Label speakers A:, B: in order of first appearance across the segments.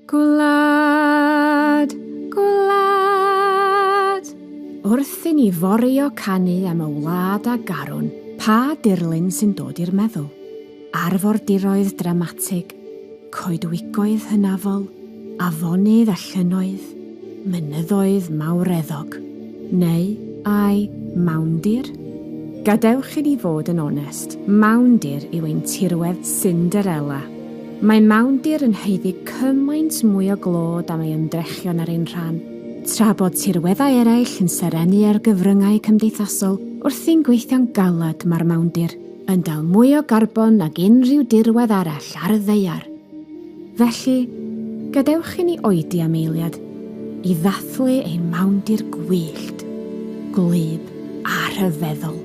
A: Gwlad, gwlad. Wrth i ni forio canu am y wlad a garwn, pa dirlun sy'n dod i'r meddwl? Arfordiroedd dramatig, coedwigoedd hynafol, afonydd a llynnoedd, mynyddoedd mawreddog, neu ai mawndir? Gadewch i ni fod yn onest, mawndir yw ein tirwedd Cinderella. Mae mawndir yn haeddu cymaint mwy o glod am ei ymdrechion ar ein rhan. Tra bod tirweddau eraill yn serennu ar gyfryngau cymdeithasol wrthi'n gweithio'n galed mae'r mawndir yn dal mwy o garbon nag unrhyw dirwedd arall ar y ddaear. Felly, gadewch i ni oedi am eiliad i ddathlu ein mawndir gwyllt, gwlyb a rhyfeddol.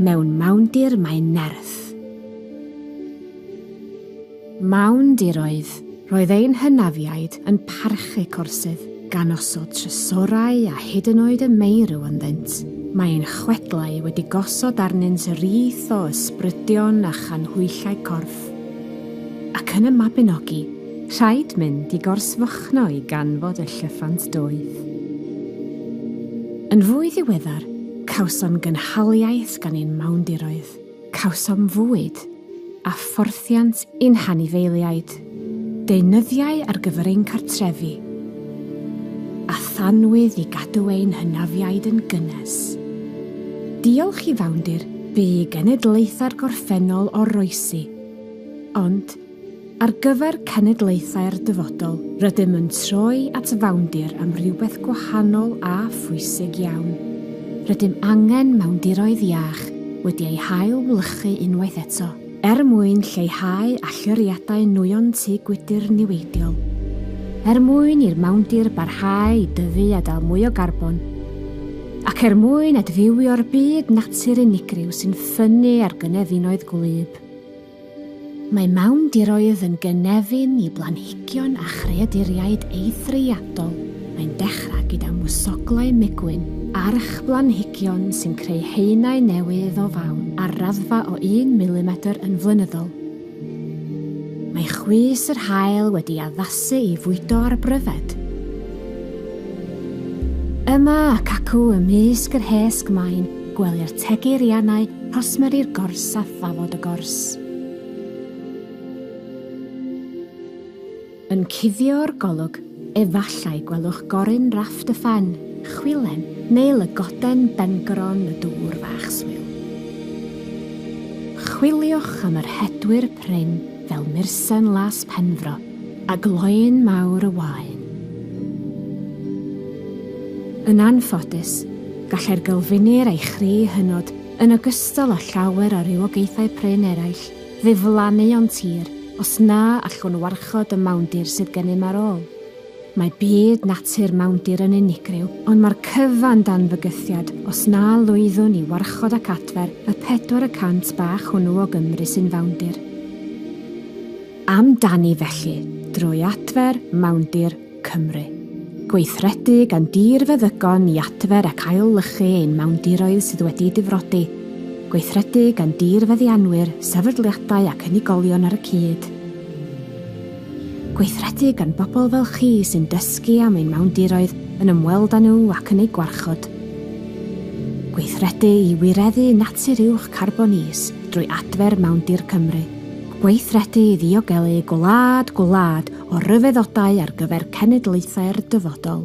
A: Mewn mawndir mae nerth. Ffraeth. Mawndiroedd, roedd ein hynafiaid yn parchu corsydd, gan osod trysorau a hyd yn oed y meirw ynddynt. Mae ein chwedlau wedi gosod arnynt y rith o ysbrydion a chanhwyllau corff. Ac yn y Mabinogi, rhaid mynd i Gorsfychno i ganfod y llyffant doeth. Yn fwy ddiweddar, cawsom gynhaliaeth gan ein mawndiroedd. Cawsom fwyd a phorthiant i'n hanifeiliaid, deunyddiau ar gyfer ein cartrefi, a thanwydd i gadw ein hynafiaid yn gynnes. Diolch i fawndir bu i genedlaethau'r gorffennol oroesi, ond, Ar gyfer cenedlaethau'r dyfodol, rydym yn troi at fawndir am rywbeth gwahanol a phwysig iawn. Rydym angen mawndiroedd iach wedi eu hail-wlychu unwaith eto. Er mwyn lleihau allyriadau nwyon tŷ gwydr niweidiol, er mwyn i'r mawndir barhau i dyfu a dal mwy o garbon, ac er mwyn adfywio'r byd natur unigryw sy'n ffynnu ar gynefinoedd gwlyb, Mae mawndiroedd yn gynefin i blanhigion a chreaduriaid eithriadol, mae'n dechrau gyda mwsoglau migwyn, archblanhigion sy'n creu haenau newydd o fawn ar raddfa o un milimetr yn flynyddol. Mae chwys yr haul wedi addasu i fwydo ar bryfed. Yma ac acw ymysg yr hesg mae'n Gwelir tegu'r ianau, rhosmeri'r gors a thafod y gors. Yn cuddio'r golwg, efallai gwelwch goryn Rafft y Ffen, Chwilen, neu lygoden bengron y dŵr fach swil. Chwiliwch am yr hedwyr prin fel mursen las Penfro. A gloyn mawr y waun. Yn anffodus, gallai'r gylfinir a'i chri hynod, yn ogystal â llawer o rywogaethau prin eraill, ddiflannu o'n tir os na allwn warchod y mawndir sydd gennym ar ôl. Mae byd natur mawndir yn unigryw, ond mae'r cyfan dan fygythiad os na lwyddwn i warchod ac adfer y pedwar y cant bach hwnnw o Gymru sy'n fawndir. Am dani felly, drwy adfer Mawndir Cymru. Gweithredu gan dir feddygon i adfer ac ail-lychu ein mawndiroedd sydd wedi difrodi. Gweithredu gan dir feddianwyr, sefydliadau ac unigolion ar y cyd. Gweithredu gan bobl fel chi sy'n dysgu am ein mawndiroedd, yn ymweld â nhw ac yn eu gwarchod. Gweithredu i wireddu natur uwch carbon is drwy adfer Mawndir Cymru. Gweithredu i ddiogelu gwlad gwlad o ryfeddodau ar gyfer cenedlaethau'r dyfodol.